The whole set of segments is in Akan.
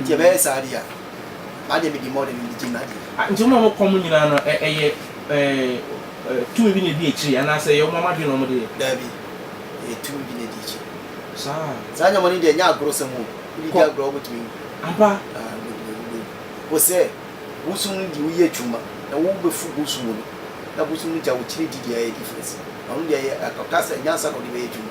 Nti ɛbɛyɛ saa deɛ a, m'adeɛ medi mmɔden mede gye m'adeɛ. Ah, nti wɔn a wɔkɔ mo nyinaa no, ɛ, ɛyɛ ɛɛ, tumi bi na edi akyire anaasɛ ɛyɛ wɔn ara mo adwene na wɔn de yɛ? Daabi, ɛyɛ tumi bi na edi akyire. Saa. Saa nyamɔne deɛ ɛnyɛ agorɔsɛm o, wode di agorɔ a wobɛtumi awu. Ampa? Ah, wobɛtumi awu, wobɛwu. Wo sɛ, bosom no deɛ woyɛ adwuma na wobɛfu bosom no, na bosom no gya wo akyire di deɛ ɛyɛ difference. Ɔno deɛ ɛyɛ, ɔka sɛ nyansa na wode bɛyɛ adwuma.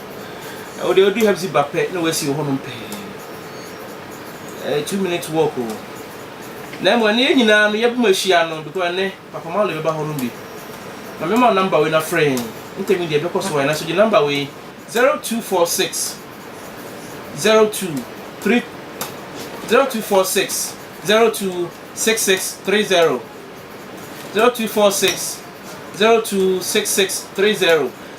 Wodeɛ wodu ha bsi ba pɛ na wasi wɔ hɔ nom pɛɛ ɛyɛ two minutes walk o na mmom ɛnɛ yɛ nyinaa no yɛbom ahyia no because ɛnɛ papa malo bɛba hɔ nom bi ma mɛma wo number wei na frɛ yɛn ntɛmi deɛ ɛbɛkɔ so ayɛ na so gye number wei zero two four six zero two three zero two four six zero two six six three zero zero two four six zero two six six three zero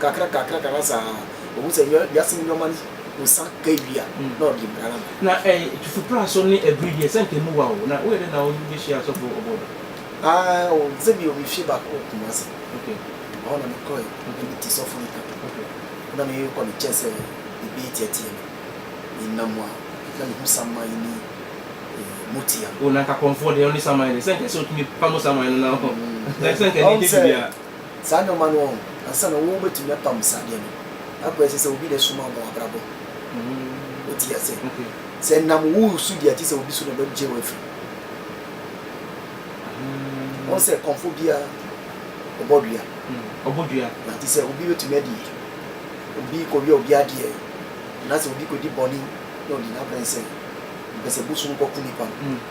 kakra kakra kakra saa ohu sɛ nneɛma wiase mu nneɛma no nsa ka ewie a na ɔde mmara no ama. Na ɛ tufupraso ne abiri deɛ sɛ anka emu wa o na woyɛ dɛ na wobɛhyia asɔfo ɔbɔ da. Aa o sɛ bio me fie baako wɔ Kumasi okay ɛhɔ na me kɔɛ okay na me ti sɔfo nka okay na me kɔ ne kyɛn sɛ ebi tia tia me me nam mu a na me hu saman ne eh motia no. O na anka kɔmfoɔ deɛ ɔne saman deɛ sɛ anka sɛ otumi pamo saman no na ɔhɔ na sɛ anka ɛnɛ dɛ biribiara. Saa nnoɔma no ɔn ansa na wo bɛtumi apam saa adeɛ no akɔ ɛsɛ sɛ obi na ɛsoma ɔbɔ w'abrabɔ wo ti ase sɛ nam wo su deɛ ti sɛ obi so na ɔbɛ gye wo afiri ɔn sɛ kɔmfo bia ɔbɔ dua ɔbɔ dua na ti sɛ obi bɛtumi adi obi kɔ wia obi adeɛ na sɛ obi kɔ di bɔne na ɔdi n'abrɛ nsɛ mpɛ sɛ bosom kɔ ku nipa no.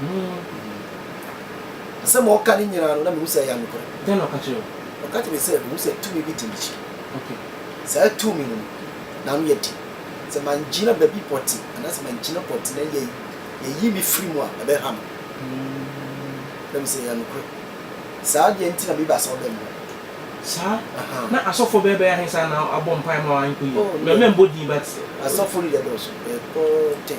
Hmm. Asɛm a ɔka no nyinaa no, na mehu sɛ ɛyɛ nokorɛ. Dɛn na ɔka kyerɛɛ wo? Ɔka kyerɛɛ me sɛ, Mehu sɛ tumi bi te m'akyi. Okay. Saa tumi no, n'ano yɛ den. Sɛ mangyina baabi pɔtee anaasɛ mangyina pɔtee na yɛ, yɛyi me firi mu a, ɛbɛha me. Hmm. Na mehu sɛ ɛyɛ nokorɛ. Saa deɛ nti na meba sɛ ɔbɛn me. Saa? Ahaa. Na asɔfoɔ bɛyɛ bɛyɛ ahe saa na abɔ mpaeɛ ma wo ankɔ yie? Oh, Mɛ, mɛmbɔ din but. Asɔfoɔ no deɛ ɛdɔɔso. Ɛkɔ ten.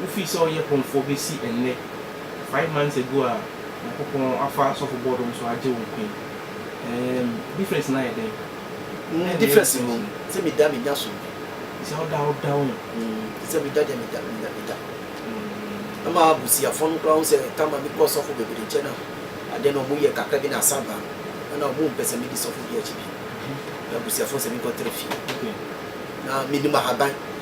Wofii sɛ ɔyɛ pomfoɔ bɛsi ɛnnɛ, five months ago a Nyankopɔn afa Asɔfo Board no so agye wo nkwa yi, eem difference no ayɛ dɛn? Dɛn na ɛyɛ difference no? Difference no? Sɛ meda menya som bi. Te sɛ woda woda wo. Te sɛ meda deɛ meda meda meda. Ɛma abusuafoɔ no koraa hu sɛ time a mekɔ ɔsɔfo bebree nkyɛn no a, adeɛ no wɔyɛ kakra bi na asa aba a, ɛna wɔmpɛ sɛ medi sɔfo bi akyi bio. Na abusuafoɔ nsɛ menkɔtra fie. Na mennim ahaban.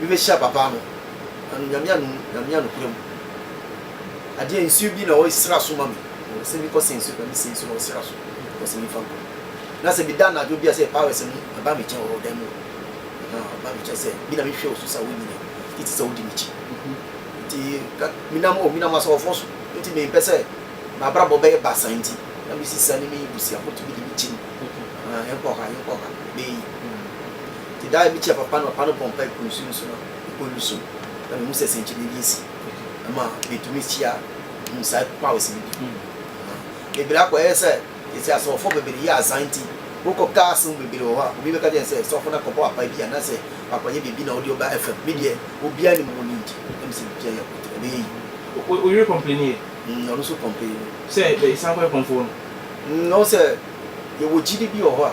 Mebehyira ababaa no, na no Nyame anom, na me anokware mu. Adeɛ, nsuo bi na ɔresra so ma me, ɔsɛ me kɔ sɛ nsuo, na me sɛ nsuo na ɔresra so, ɔsɛ me mfa nkɔ. Na sɛ meda anadwo bi a sɛ powers no ɛba me kyɛn wɔ dan mu hɔ, aha, ɔba me kyɛn sɛ, me na mehwɛ wo so sɛ wonyini, titi sɛ wodi m'akyi. Nti ka, menam, oh, menam asɔhɔfoɔ so, nti me mpɛ sɛ m'abrabɔ bɛyɛ basaa nti, na me sisa ne me busuafoɔ tumi de me kyim, aha, yɛnkɔ ha, yɛnkɔ ha, bɛɛ yi. Enti da a ebi kyɛɛ papa na papa no bɔɔ mpae guu nsu no so no, mpo no su. Na mihu sɛ sɛnkyerɛnne bi asi. Ɛma mitumi hyia nsae powers no bi. Bebree akɔyɛ sɛ sɛsi asɔfo bebree yɛ azan nti, wokɔ cars mu bebree wɔ hɔ a, obi bɛka kyerɛ no sɛ sɔfo no akɔbɔ apae bi anaasɛ wakɔyɛ biribi na ɔde ɔba FM. Me deɛ, obiara nnim ho need. Na mise biribiara yɛ good, ɛbɛyɛ yiye. Wo yere complainee? Mm, ɔno nso complainee. Sɛ yɛsan kɔyɛ kɔmfoɔ no? Mm, ɔhu sɛ yɛwɔ gyidi bi wɔ hɔ a.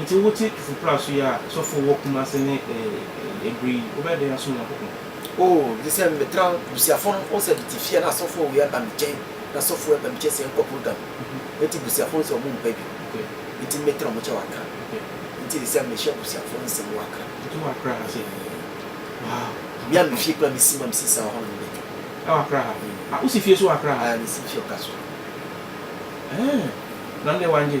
Nti wote Tufupra so yi a, sɔfo wɔ Kumase ne Ebri yi, wobɛyɛ dɛn asom Nyankopɔn? Oh, gyesɛ metra busuafo no, wohu sɛ tete fie a na asɔfo wei aba me kyɛn, na sɔfo wei aba me kyɛn sɛ yɛnkɔ program, nti busuafo no sɛ ɔmo mpa bi, nti metra ɔmo kyɛn wɔ Accra, nti sesɛ mehyɛ busuafo no nsɛm wɔ Accra. Nti wowɔ Accra ha sei? Wow! Me a me fie koraa mesi ma mesi saa hɔ na mede dwom. Ɛwɔ Accra ha? Ah, wosi fie nso wɔ Accra ha? Ah, mesi fie wɔ Kasoa. Eeh, na wo deɛ wangye?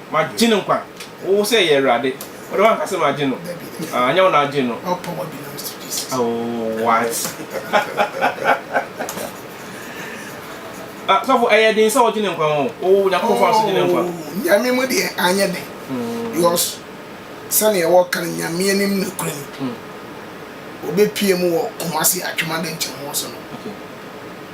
Magye no nkwa. Wo sɛ yɛ Awurade. Wo de woanka sɛ magye no. Ah, ɛnyɛ wo na agye no. All power belongs to Jesus. Oh, what? ah, sɔfo, ɛyɛ den sɛ ɔgye ne nkwa o. O, Nyankopɔn fa so gye ne nkwa. Oh, Nyame mu deɛ anyɛ den. Hmm. Because sɛnea ɛwɔ kan Nyame anim nokorɛ ni. Hmm. Wɔbɛpie mu wɔ Kumasi Atwemade nkyɛn wɔ so no. Okay.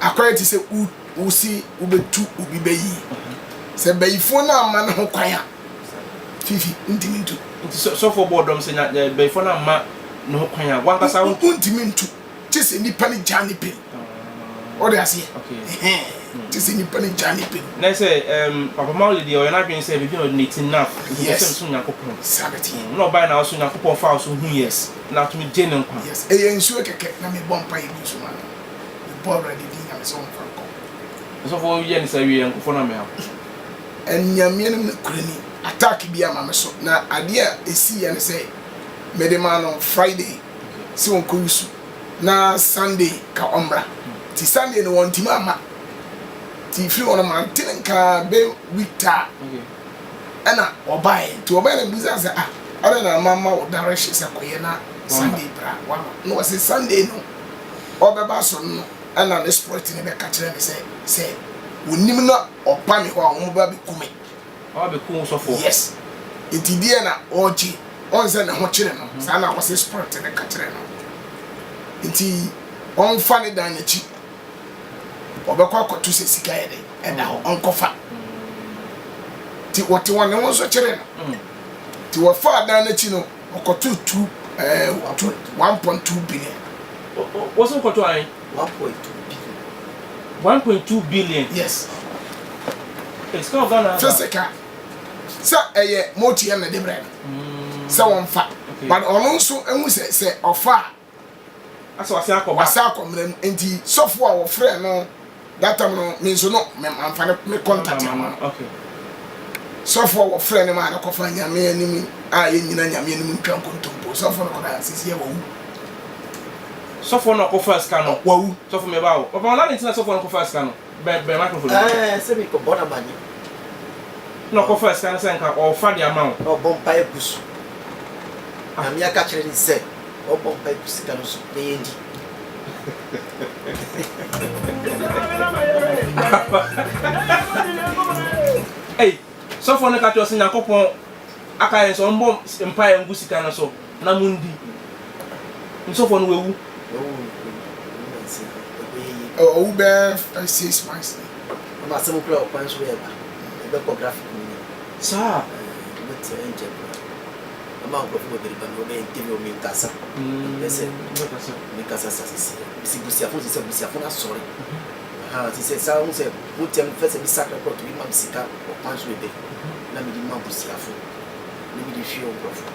Akwan te sɛ wo wo se wobɛtu obi bɛ yi, sɛ bayifoɔ no amma no ho kwan a, Fifi, wontumi ntu. Nti sɛ sɔfoɔ bɔɔ dɔm sɛ nya ɛ bayifoɔ no amma ne ho kwan a, w'ankasa wo. Wontumi ntu, gye sɛ nipa no gyaa ne pɛ mu. Wote aseɛ? Ɛhɛn, gye sɛ nipa no gyaa ne pɛ mu. Nɛ sɛ ɛɛm Papa Mao de deɛ, ɔyɛ n'adwene sɛ baabi a ɔde n'ati no na akɔ, nti ɔpɛ sɛ mesom Nyankopɔn. Saa na ɛteɛ. Ɛna ɔbaeɛ na ɔso Nyankopɔn faa so huiɛ, ɛna atumi gyee ne nkwa. Yes, ɛyɛ nsuo kɛkɛ na mebɔ mpaeɛ gu so maa no. Mebɔ Awurade din nyamesom ho nkorankorɔ. Ɔsɔfo yɛ ne saa wie a nkurɔfoɔ no ammɛha no. Aniameɛ no ne kura ni. Attack bi ama me so na adeɛ a ɛsii yɛ ne sɛ mede maa no Friday sɛ ɔnkɔ wusu na Sunday ka ɔmmra nti Sunday no wɔntumi amma nti firi hɔ no mante ne nka bɛ week taa Ɛna ɔbaeɛ nti wɔbɛn no bisaa sɛ ah adɛn na mamma wo direction sɛ kɔyɛ na Sunday bra wama na ɔse Sunday no ɔbɛba so no ɛna ne spirit no bɛka kyerɛ me sɛ sɛ ɔnim na ɔba me hɔ a wɔn bɛba bɛku me Ɔba bɛku wo sɔfoɔ? Yes nti deɛ na ɔregye ɔn sɛ ne ho kyere no saa na ɔse spirit no ka kyerɛ no nti ɔmfa ne dan n'akyi ɔbɛkɔ akɔto sɛ sika yɛ dɛ ɛda hɔ ɔnkɔfa nti wɔte wɔn ne ho nso kyerɛ no nti mm. wɔfa adan no akyi no ɔkɔto tu ɛɛ wɔto one point two billion. wɔso kɔto an. one point two billion. one point two billion. yes. sika wɔ ghana. sɛ sika sɛ ɛyɛ motia na de brɛ no mm. sɛ wɔn fa but ɔno nso ehu sɛ sɛ ɔfa a. Asɛ wasan akɔ ba. Wasan akɔ mmara mu nti sɔfo a wɔfrɛ no that time no me nso no me manfa ne me contact ama no. Okay. Sɔfo a wɔfrɛ no maa no kɔfa nyame anim a yɛn nyina nyame anim ntwa nkontompo sɔfo no kɔda sisi a wawu. Sɔfo no kɔfa sika no. Wawu. Sɔfo meba o. Papa ɔna ne ntina sɔfo no kɔfa sika no. Bɛ bɛn microphone no. Ɛɛ sɛ mepɛ bɔ na manyɛ. Na ɔkɔ fa sika no sɛ nka ɔɔfa de ama wo. Na ɔbɔ mpaeɛ gu so. Nyame aka kyerɛ no sɛ ɔbɔ mpaeɛ gu sika no so na yɛndi. Ei sɔfoɔ no ka kyerɛ wo sɛ Nyankopɔn aka yɛn sɛ ɔmbɔ mpaeɛ ngu sika no so. na mundi. Nsɔfoɔ no wawu. Ɔwu bɛyɛ five six months ni. Ama asɛm kura ɔkwan so ɛɛba ɛbɛkɔ graphic mu ni. Saa. Ɛbɛ tɛ ɛnkyɛ kura. Ama nkurɔfo bɛbɛri ba na ɔbɛyɛ ntɛmi ɔmi nkasa. Ɛsɛ. Ɔmi kasa sa sisi. Esi busiafo sisi abusiafo na sɔre. Ha sisi saa ɔmu sɛ mo tɛm fɛ sɛ mi sakra kɔtu bi ma mi sika ɔkwan so ɛbɛ na mi di ma busiafo na mi di hwi ɔnkurɔfo.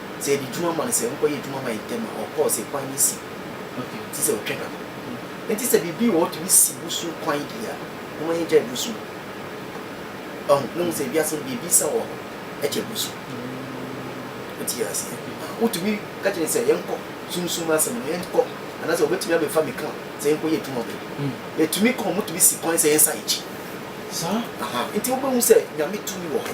Sɛ yɛde dwuma ma no sɛ nkɔyɛ adwuma ma yɛn ntɛm a, ɔkɔ, sɛ kwan no si. Ɔhwɛ, te sɛ ɔtwa da no. Enti sɛ biribi wɔ hɔ tumi si wusu kwan di a, momma yɛngyae wusu. Wahu? Moahu sɛ wiase no, biribiasa wɔ hɔ kyɛn wusu. Wote aseɛ? Ahaa. Wotumi ka kyerɛ no sɛ, Yɛnkɔ, Sunsum asɛm no, yɛnkɔ, anaasɛ wɔbɛtumi abɛfa me kaa sɛ yɛnkɔyɛ adwuma ma me. Yɛtumi kɔ, wɔtumi si kwan sɛ yɛnsan yɛn akyi. Saa? Ahaa. Enti wobɛhu sɛ Nyame tumi wɔ hɔ.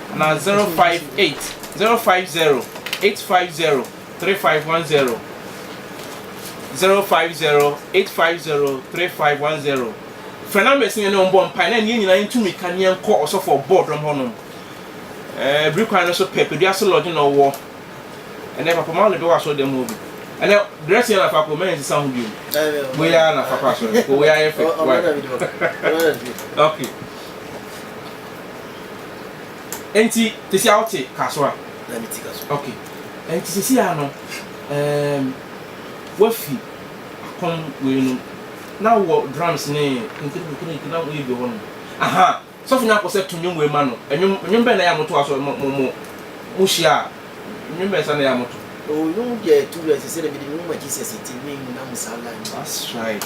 anaa 058-050-3510, 050-850-3510. Frɛ numbers no yɛne wɔn bɔ mpae na ɛne yɛn nyinaa yɛntu mmirika ne yɛnkɔ ɔsɔfo a ɔbɔɔ dɔm hɔ no. Ɛɛ, bere kwan no so pɛ, Padua Ase Lodge na ɔwɔ. Ɛnɛ Papa Marley bɛwɔ asɔrdan mu hɔ bi. Ɛnɛ, dress yɛn na fa kɔ, mma yɛn nsesa ho bio. Wei ara na fa kɔ asɔre, kɔ wei ara yɛ fɛ. Why? Okay. Enti sisi a wote kaso a? Na me ti kaso. Okay. Enti sisi a no, um, wafi akɔm wei no, na wɔ drums ne nkirikirikiri na woyɛ bi wɔ hɔ no. Aha, sɔfo nyako sɛ to nwom wei ma no. Nwom, nwom bɛn na yɛ a moto aso, mo, mo, mo, mo hyia a, nwom bɛn sa na yɛ a moto? Oh, nwom deɛ to rɛ sɛ sɛ na mede me nwoma Jesus ti me mu na mo saa line. That's right.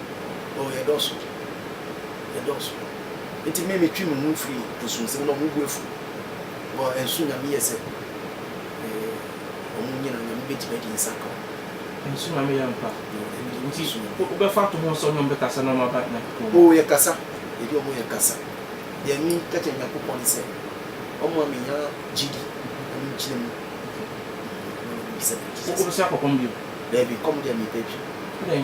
Oh, yɛdɔɔso, yɛdɔɔso. Enti me, metwe me ho firi nsu nsɛm na wɔn bo afu wɔ nsu nyame yɛ sɛ eh, wɔn nyina nyame bɛ gyina di nsa ka wɔn. Nsu nyame yɛ nkwa eh, nti wo bɛ fa to ho sɛ wɔn bɛ kasa na wɔn aba Nyankopɔn mu. Oh, yɛ kasa, yɛ di wɔn yɛ kasa. Deɛ me ka kyerɛ Nyankopɔn ne sɛ wɔn ma me nya gyidi na me gyina mu. Wo bɛ sua kɔ kɔm bio? Daabi, kɔm deɛ me pɛ bi. Adɛn?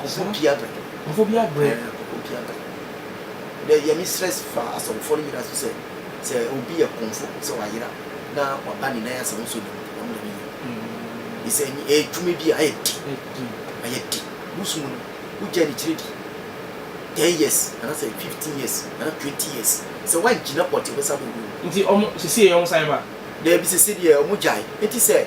Kɔbɔ bi abrɛ. Kɔbɔ bi abrɛ. Ɛɛ kɔbɔ bi abrɛ. Dɛ yɛ me stress fa asɔrefo no nyina so sɛ, sɛ obi yɛ kɔmfo sɛ ɔayera na ɔaba ne nan ase a ɔnnsɔ ne mu a, ɔno dɛm nnyɛ. Nye sɛ nye edwuma bi a ayɛ de, ayɛ de. Bosom mu no, wo gyaa ne kyerɛ di ten years ana sɛ fifteen years ana twenty years, sɛ wɔanngyina pɔtee ɔbɛsan abɔbɔ mu. Ntsi ɔmo, sesei wɔsan ba? Dabi, sesei deɛ ɔmo gyae. Ntsi sɛ.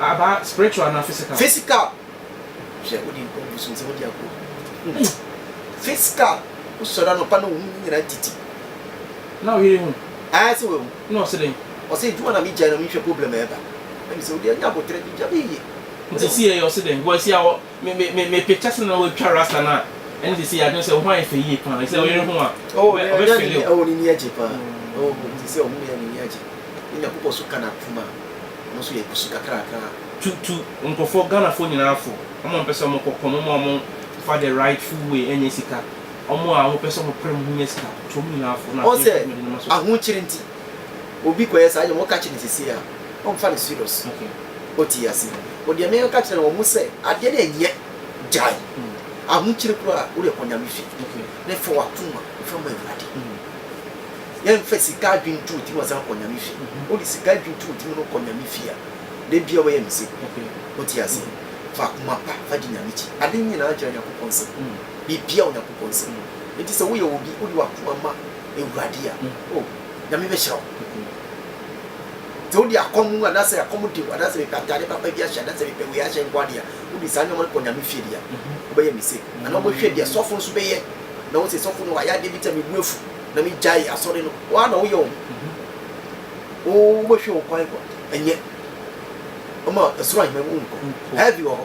Aba spiritual anaa physical? Physical hwɛ wode nkɔmfo so nsɛ wode agu hɔ physical wosɔre anɔpa na wohu nyina titi na woyere hu aa sɛ wawu na ɔse dɛn ɔse adwuma na megyae na menhwɛ problem ɛba ɛne sɛ wode anya aboterɛ de gya bɛyie nti si yɛyɛ ɔse dɛn bɔ asi awɔ Me me me me picture sɛ na watwa rasta no a ɛne sɛ sɛ adwene sɛ wo ho ayɛ fɛ yie paa sɛ ɔyere ho a oh ɔbɛ ɔbɛ fɛle o. Ɛwɔ ne ni agye paa oh nti sɛ ɔhunu yɛ ne ni agye ne nyakopɔ so ka na kum a ɔno nso yɛ gusu kakrakra. Tu tu nkurɔfoɔ Ghanafoɔ nyinaa fo wɔn a wɔpɛ sɛ wɔn kɔ kɔm wɔn a wɔn fa the rightful way ɛnyɛ sika wɔn a wɔpɛ sɛ wɔn pere wɔn ho nya sika tu wɔn nyinaa fo na afei nso mede ne ma so. obi kɔyɛ saa nneɛma, woka kyerɛ no seesei a, ɔmfa no serious. Ɔte ase. O deɛ meka kyerɛ wɔn sɛ, adeɛ no ɛnyɛ, gyae. Ahokyere koraa, wo deɛ kɔ Nyame fie na fa w'akoma fa ma Awurade. Yɛmfa sika adwene nto wo tirim ansa na woakɔ Nyame fie. Wode sika adwene to wo tirim na wokɔ Nyame fie a, da biara woyɛ mistake. Wote aseɛ? Fa akoma pa fa di Nyame akyi. Ade nyinaa gyina Nyankopɔn nsam. Biribiara wɔ Nyankopɔn nsam. Enti sɛ woyɛ obi, wode w'akoma ma. Ewurade a, oh, Nyame bɛhyira wo. Sɛ wode akɔm mu anaasɛ akɔm de wo anaasɛ mepɛ atade papa bi ahyɛ anaasɛ mepɛ wei ahyɛ nko adeɛ a, wode saa nneɛma no kɔ Nyame fie deɛ a, wobɛyɛ mistake. Anaa wobɛhwɛ deɛ sɔfo nso bɛyɛ, na wo sɛ sɔfo no wayɛ adeɛ bi te sɛ me bo afu na megyae asɔre no, wo ara na woyɛ wo ho. Wo, wobɛhwɛ wo kwan kɔ, ɛnyɛ. Ɔma soro ahemman mu nkɔ. Heaven wɔ hɔ.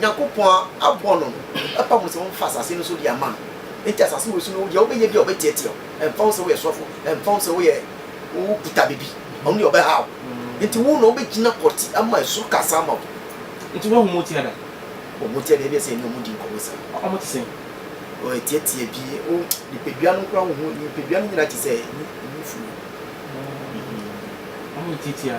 Nyankopɔn abɔ no no, ɛfa ho sɛ wɔmfa asase no so de ama no. Enti asase wei so no, deɛ wobɛyɛ biara ɔbɛteatea wo. Ɛmfa ho sɛ woyɛ sɔfo, ɛmfa ho sɛ woyɛ, wokuta biribi, ɔno deɛ ɔbɛhaw wo. Enti wo na wobɛgyina pɔtee ama esoro kasa ama wo. Enti woahu wɔn ti ada? Wɔn ti ada, ebia sɛ yɛne wɔn di nkɔmmɔ saa. Wɔte sɛn? Wɔteatea bi. Wo nipadua no koraa wohu, nipadua no nyinaa te sɛ nufoɔ. Wɔyɛ tiatia.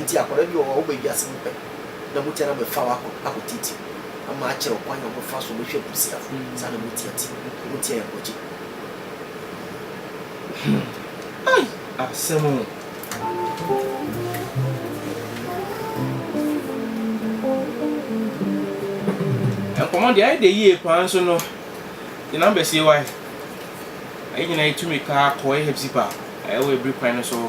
Ntsi akɔda bi wɔ hɔ a woba wiadze mu pɛ na mutu ara bɛfa wo akɔ akotseetsir ama akyerɛ wo kwan a wɔbɛfa so bɛhwɛ ebusuafo. Saa na mo tsia tse. Mo tsia yɛ bɔgye. Hmm. Ai! Asɛm o. Nkɔmmɔ deɛ ayɛ dɛ yie paa nso no yɛ number sie wae. Yɛn nyinaa yɛtumi kaa kɔɔ yɛ hepzip a ɛwɔ abiri kwan no so hɔ.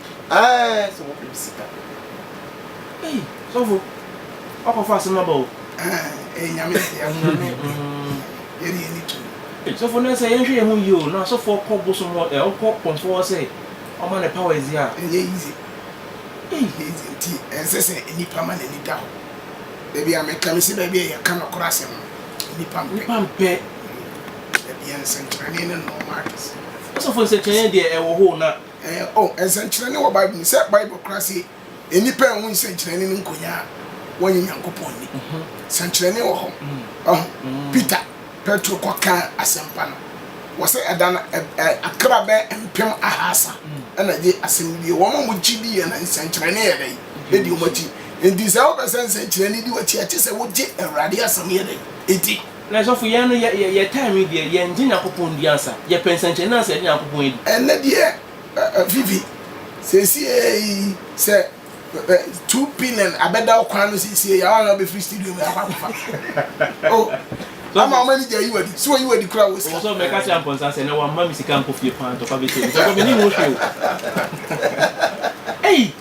Ae sɛ wɔpem sika. Ei sɔfo wakɔfa asem aba o. Ae ei nyame deɛ ɔho nyame yɛ ne yɛni to. Ei sɔfo nɛ sɛ yɛnhwɛ yɛho yie o na sɔfoɔ kɔ bosom hɔ ɛ ɔkɔ kɔmfoɔ hɔ sɛ ɔma ne powers yi a. Ɛnyɛ easy ɛnyɛ easy nti ɛnsɛ sɛ nipa ma nani da hɔ baabi a meka mese baabi a yɛka nɔkorɛ asem no nipa mpɛ. Nipa mpɛ. Dabi nsɛnkyerɛnee ne nɔɔma akɛse. Sɔfo nsɛnkyerɛnee deɛ ɛwɔ hɔ o na Ɛɛ, o, nsɛnkyerɛnne wɔ Bible mu, sɛ Bible kora se, Nnipa anhu nsɛnkyerɛnne no nkonya a, wɔnnye Nyankopɔn nni. Sɛnkyerɛnne wɔ hɔ. Wahu? Peter, Petro, kɔkaa asɛmpa no wɔ sɛ ɛda no, ɛ, ɛ, akra bɛyɛ mpem ahaasa na gyee asɛm no diiɛ. Wɔn a wɔgye diiɛ no, nsɛnkyerɛnne yɛ dɛn? Ɛdi wɔn akyi. Enti sɛ wopɛ sɛ nsɛnkyerɛnne di w'akyi a, ɛkyerɛ sɛ wogye Awurade asɛm yɛ dɛn? Di. Na sɔfo yɛn no yɛ yɛ time yi deɛ yɛn gye Nyankopɔn di ansa yɛ pɛ nsɛnkyerɛnne ansa yɛde Nyankopɔn adi. Ɛnɛ deɛ eh Vivi seesei sɛ eh two billion abɛda wo kwan no seesei a woana wobɛfiri studio mu akɔ akɔfa oh ama wɔn ani gya ayi wo adi sɛ wɔyi wo adi koraa wɔ sika. Ɔsɔfo mɛka akyerɛ Amponsah sɛ ɛnɛ wamma me sika ankɔ fie paa ntɔkwa bɛhyɛ mu sɔfo mennim wo hwee o ei.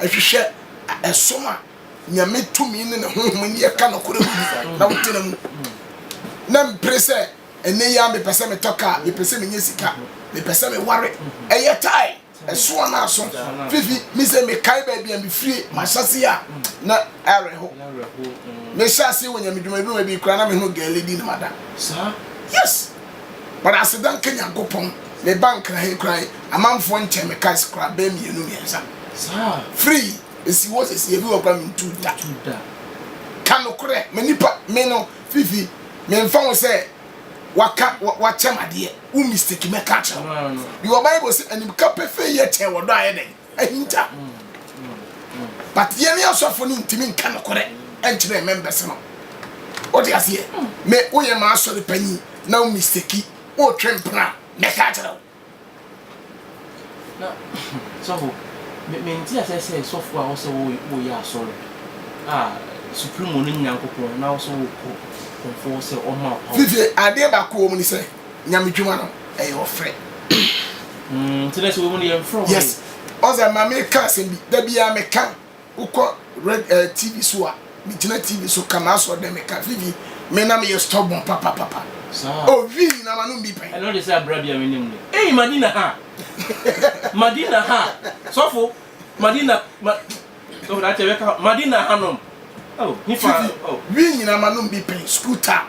Hwehwɛ som a Nyame tumi ne ne honhom ne yɛ ka nokore mu bi na wo tena mu. Na mpere sɛ, Ɛnnɛ yi ara mepɛ sɛ metɔ kaa, mepɛ sɛ menya sika, mepɛ sɛ meware. Ɛyɛ tae, ɛso anaa aso. Fifi, me sɛ mekae baabi a mefirie, mahyɛaseɛ a na awerɛho. Mehyɛɛ aseɛ wɔ Nyame dwuma bi mu, ɛbee koraa na mehunu girl di ne mada. Saa? Yes! But aseda nka Nyankopɔn me ba nkra he koraa yi amanfoɔ nkyɛn me cars koraa bɛɛ mmienu mmiɛnsa free esi hɔ sesie ebi wɔ koraa me ntu da ka nokorɛ ma nipa me no fifi me nfa ho sɛ waka wakyɛm adeɛ wo mistake mɛka akyerɛ wo bible se animka pefee yɛ kyɛn ɔdɔ a yɛ dɛn ahinta but yɛne asɔfo no ntumi nka nokorɛ nkyerɛ members no wote aseɛ me woyɛ ma asɔre panyin na wo mistake wotwe mpena mɛka akyerɛ wo na sɔfo menti asɛ sɛ sɔfo a wɔsɛ woyɛ asɔre a supremo no nyankopɔn na wɔsɛ wokɔ kɔmfoɔ sɛ ɔma wo fifie adeɛ baako wɔ mu ne sɛ Nyamedwuma no ɛyɛ ɔfrɛ. Mm, ti na sɛ wɔn yɛn frɛ wɔn. Yes, ɔsɛ maame ka asɛm bi da biara me ka wokɔ red eh, TV so a me gyina TV so ka ma asɔ dɛ me ka vivi me na me yɛ stubborn papa papa. Saa. Oh vivi na ma no bi pɛn. Ɛna ɔde sɛ abira bi a me nim ne. Hey Madina ha, Madina ha, sɔfo Madina ma, sɔfo na akyɛ bɛ ka Madina ha nom. Oh, nifa oh. Vivi na ma no bi pɛn school time.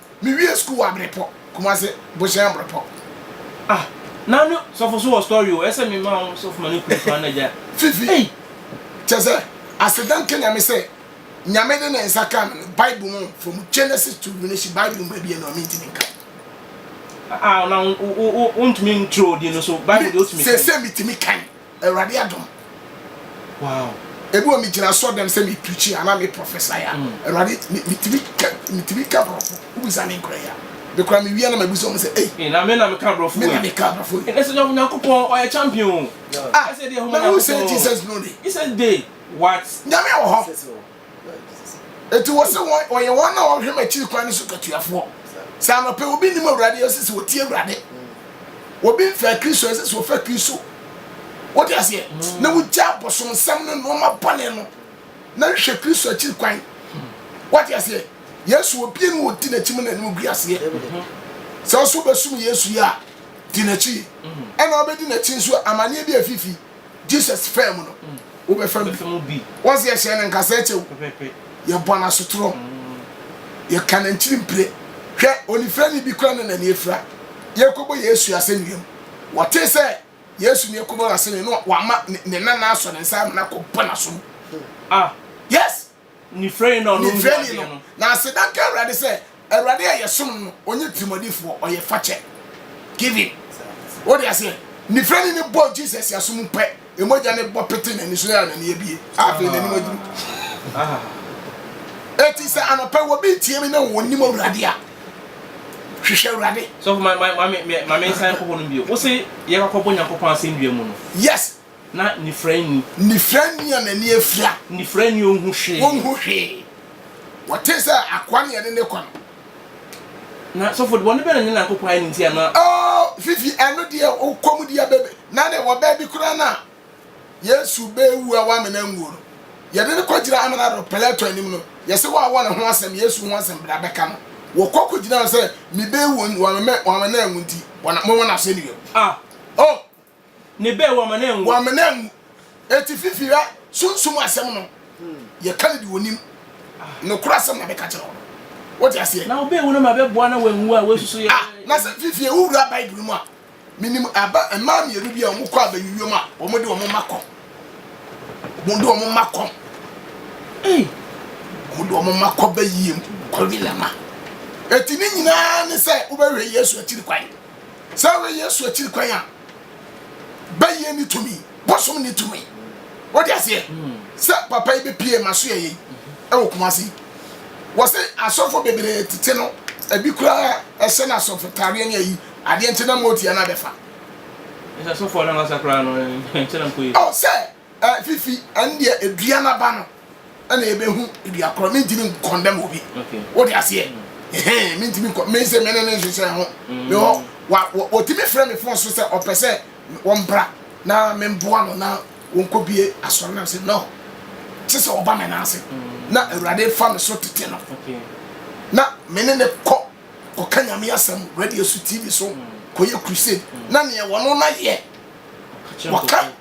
Me wie school wɔ abrepɔ kumase bohyɛn abrepɔ. Ah na ne sɔfo so wɔ story o ɛsɛ me ma wo sɔfo ma ne kunu so ana gya. Fifi ei. Kyɛ sɛ aseda nka nyame sɛ nyame de ne nsa kaa me no bible mu from Genesis to Revelation bible mu baabi ɛno a mentimi nka. Ah na wo wo wo wo ntumi nkyerɛ odin no so bible deɛ otumi kan. Sɛsɛ metumi kan. Awurade adom. Wow. Ebi wɔ me gyina sɔ dɛm sɛ me preachi anaa me prophesy a, mm. Awurade me tumi ka me tumi ka brɔfo. Wobisa me nkora yi a, me kora me wia na ma bisa wɔn sɛ ei. Na me na me ka brɔfo yi. Me na me ka brɔfo yi. Ɛsɛ nyɔfo nyankopɔn ɔyɛ champion. Ah, na who say Jesus no day? Jesus day what? Nyame wɔ hɔ. Enti wɔse wɔn, wɔyɛ wɔn a wɔhwɛ m'akyiri kwan no so katuafoɔ. Sɛ anɔpɛ obi nim Awurade, ɛsɛ sɛ ɔtie Awurade. Obi mfɛ Kristo, ɛsɛ sɛ ɔfɛ Kristo. Wote aseɛ? Na wogya bosomsɛm ne nnoɔma bɔne no, na hwɛ Kristo akyiri kwan. Wote aseɛ? Yesu, obie no ɔdi n'akyi mu na anim gu aseɛ. Sɛ nso wobɛsom Yesu yi a, di n'akyi. Ɛna wobɛdi n'akyi nso a, amanneɛ bi afifi. jesus faa mu no wobɛfa bi wɔn sɛ yɛhyɛ no nkasa kyɛw yɛbɔ no asotorɔ yɛka no nkyiri mpire hwɛ onifira ne bi kora ne nani afira yɛkɔbɔ yesu asɛnnuam wɔte sɛ yesu ne ɛkɔbɔ no asɛnnuam no wama ne nana asɔ ne nsa amena kɔbɔ no asom ah yes Nifrani no a ɔnom guu adeɛ no. Na aseda nka Awurade sɛ, Awurade a yɛsom no no, ɔnyɛ tirimɔdenfoɔ, ɔyɛ fakyɛ, giving. Wode aseɛ? Nifrani no bɔɔ Jesus asom pɛ, mogya no bɔ petee n'ani so, yɛɛ a n'ani abue. Afei n'anim aduru. Eti sɛ anɔpɛ wɔ bi tie me na wɔn nim Awurade a, hwehwɛ Awurade. So ma ma ma ma me nsan kɔ hɔ no bio. Wo se yɛkɔ akɔbɔ Nyankopɔn asɛnnua mu no. Yes. Na nifira nni. Nifira nni a n'ani afira. Nifira nni a onhu hwee. Onhu hwee. Wɔte sɛ akoa ne yɛne ne kɔ no. Na sɔfo de bɔne bɛn na ne Nyankopɔn ayɛ no nti a na. Oh, Fifi, ɛno deɛ wo kɔm deɛ bɛbɛ. Na deɛ wɔ baabi koraa no a Yesu bɛwu a w'amena anwuo no, yɛde no kɔgyina amena do Pilato anim no, yɛse w'awɔ ne ho asɛm, Yesu ho asɛm bra bɛka no. Wɔkɔ kɔgyina no sɛ, mebɛwu w'amena anwu nti, momɔ no asɛnnua mu. Ah! Oh! Ne bɛ, w'amene anwu. W'amene anwu. Enti fifi rɛ, Sunsum asɛm no, yɛka no de w'ɔnim. Nokorɛ asɛm na bɛka kyerɛ wo no. Wote aseɛ? Na wobɛ wu na ma bɛ boa na w'anwu a, w'asusu yɛ. Ah, na sɛ fifie wo wura Bible no mu a, menim aba, mmaa mmienu bi a wɔkɔ abayuiam a, wɔn de wɔn mma kɔ. Wɔn de wɔn mma kɔ. Ei! Wɔn de wɔn mma kɔ bayiem, kɔ Wilama. Enti ne nyinaa ne sɛ wobɛhwɛ Yesu akyiri kwan. Sɛ woyɛ Yesu akyiri kwan a, bɛyɛ ne tumi, bosom ne tumi. Wode aseɛ sɛ papa yi bɛpie ma so yɛyɛ ɛwɔ Kumasi. Wɔsɛ asɔfo bebree tete no, ebi koraa ɛhyɛ no asɔfo tareɛ ne ayi adeɛ nkyɛn na mɔɔti anaa bɛfa. Ɛsɛ asɔfo anaa wasa koraa no nkyɛn na mkɔyɛ. Ɔ sɛ. Eh fifi ɛndeɛ edua no aba no ɛna yɛbɛhu dua korɔ mentimi nkɔndɛm obi wode aseɛ ɛhɛn mentimi nkɔ me sɛ mene ne nhyehyɛ ho me hɔ wɔtumi frɛ me fon so sɛ ɔpɛ sɛ wɔmbra na memboa no na wɔnkɔbie asɔre nam sɛ no kye sɛ ɔba me naase na awurade fa me so tete no na mene ne kɔ kɔka nyame asɛm radio so tv so kɔyɛ crusade na neɛ wɔno no yɛ wɔka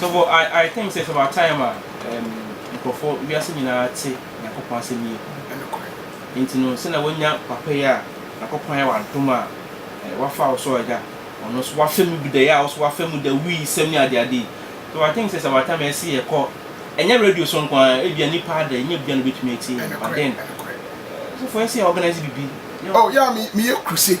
So but I I think sɛ ɛtɔba time a ɛɛm nkorɔfoɔ wiase nyinaa te Nyankopɔn asɛm yie paa. Ɛno kɔɛ. Nti no sɛnea wanya papa yi a Nyankopɔn ayɛ w'adom a ɛɛ wafa wo so a agya ɔno nso wafa mu bi da yi a wo nso wafa mu da wii sɛm ne ade ade yi so I think sɛ ɛtɔba time a ɛse yɛkɔ ɛnyɛ radio so nko ara ebia nipa ada ɛnyɛ obia na obetumi atie yɛn but then ɛɛ sɔfo ɛse yɛ organise bibi yɛ Oh yeah me meyɛ crusade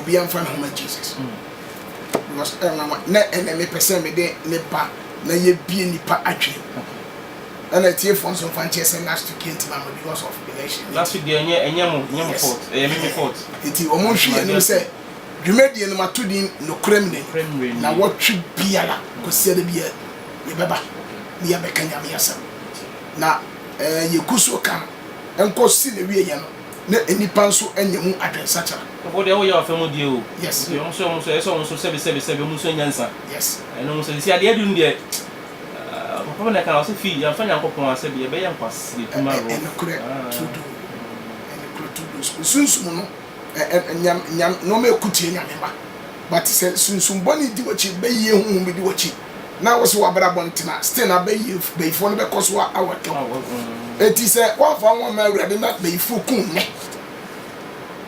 Obiara nfa ne ho ma Jesus because ɛ nwanwa na ɛnɛ mepɛ sɛ mede ne ba na yɛbie nnipa adwene mu. Ɛna atiefoɔ nso mfa nkyerɛ sɛ last week yɛntumi ama because of election. Last week deɛ ɛnyɛ ɛnyɛ mo ɛnyɛ mo Yes. fault ɛyɛ me me fault. Nti wɔn nhwi yɛn anim sɛ dwumadie no mato din nokorɛ mmerɛ Nokorɛ mmerɛ ni. ni. Na wɔtwe biara kɔsi ɛda biara yɛbɛba na yɛabɛka Nyame asɛm. Na ɛɛ yɛgu so ka no nkɔsi n'awieeɛ no na nnipa nso anya mu adwensakyera. Wo deɛ woyɛ ɔfɛ mu deɛ o. Yes. Nti ɔmo so ɔmo so ɛyɛ sɛ ɔmo nso sɛbi sɛbi sɛbi ɔmo nsua nyansa. Yes. Ɛno ɔmo sɛ sisi adeɛ aduru no deɛ ah papa bi na ɛka ɔsɛ fii yɛn fa Nyankopɔn asɛ deɛ ɛbɛyɛ nkwasasɛ kum aroɔ. Ɛnokorɛ tuudu ɛnokorɛ tuudu nsunsum no ɛ ɛ nyam nyam nnoɔma ɛku tie Nyame mma but sɛ nsunsum bɔne di wakyi bɛyie huhum bi di wakyi. na wo se w'abrabɔ ntena, still na bayie bayifoɔ no bɛkɔ so awɛtɔ wo. Enti sɛ woamfa wo ho amma Awurade na bayifoɔ ku wo nnɛ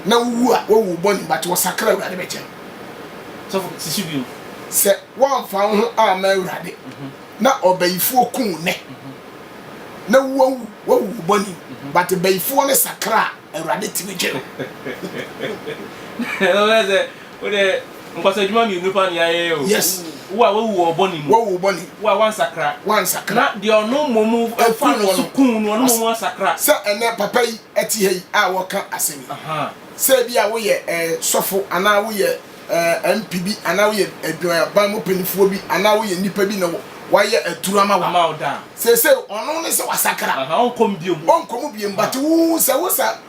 na wowu a, woawu wo bɔne mu, but wɔsakra a Awurade bɛkyɛ no. Sɔfo, si so bio. Sɛ woamfa wo ho amma Awurade na ɔbayifoɔ ku wo nnɛ na woawu, woawu wo bɔne mu, but bayifoɔ no sakra a, Awurade tumi gye no. Ɛno bɛyɛ sɛ Wo de nkɔso adwuma mmienu paa na yɛayɛ o. Yes. Wo a wawu wɔ bɔne mu. Wawu wɔ bɔne. Wo a wansakra. Wansakra. Na deɛ ɔno mmom fa no so kuu no, ɔno mmom asakra. Sɛ ɛnɛ papa yi te ha yi a ɔreka asɛm yi, sɛ ebi a woyɛ sɔfo anaa woyɛ MP bi anaa woyɛ adwumaban mu panimfoɔ bi anaa woyɛ nipa bi na wayɛ aduru ama wo. Ama wo da. Seesei ɔno ne sɛ wasakra. Ɔnkɔ mu biom. Ɔnkɔ mu biom but wo sɛ wo sa.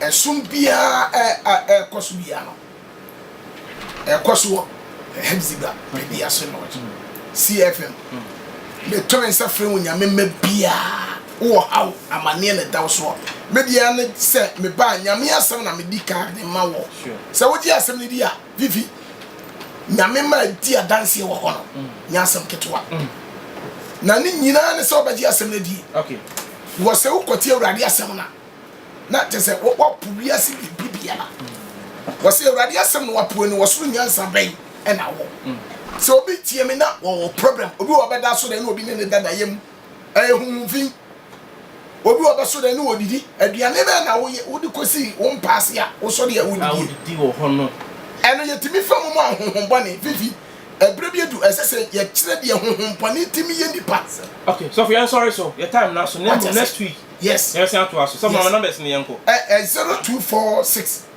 Ɛsom biara a ɛrekɔ so biara no, ɛkɔ so wɔ Hepzibah baabi ase lodge. CFM. Meto me nsa frɛ wo nyame mma biara wɔ haw amanneɛ na ɛdaw so a me deɛ ne sɛ mebaa nyame asɛm na medi kan de ma wɔ sɛ wogye asɛm no di a Vivi, Nyame maa dii adanseɛ wɔ hɔ no nyɛ asɛm ketewa. Na ne nyinaa ne sɛ wobɛgye asɛm no adie. Wɔ sɛ wokɔte Awurade asɛm no a, na kyɛ sɛ woapo wiase biribi biara. Wɔ sɛ Awurade asɛm na woapo ɛno, wɔ soro nyansa bɛn na wɔ? Sɛ obi tie me na wɔwɔ problem, obi wɔ ɔbɛda so dɛn na obi ne ne da na yɛ mu? Ɛyɛ honhom fi. Obi wɔ bɛso dɛn ne wɔ didi? Aduane bɛn na woyɛ wode kosi wo mpa ase a wosɔ de a wodidie? Ɛno yɛtumi fa mu ma ahonhom bɔne fifi. Ɛberɛ bi adu a ɛsɛ sɛ yɛkyerɛ deɛ honhom bɔne tumi yɛ nnipa. Okay sɔfo yɛnsɔre so yɛ time no aso na mmom next week yɛbɛsan atoa so. Sɔfo ma me numbers no yɛnkɔ. Ɛ ɛ zero two four six.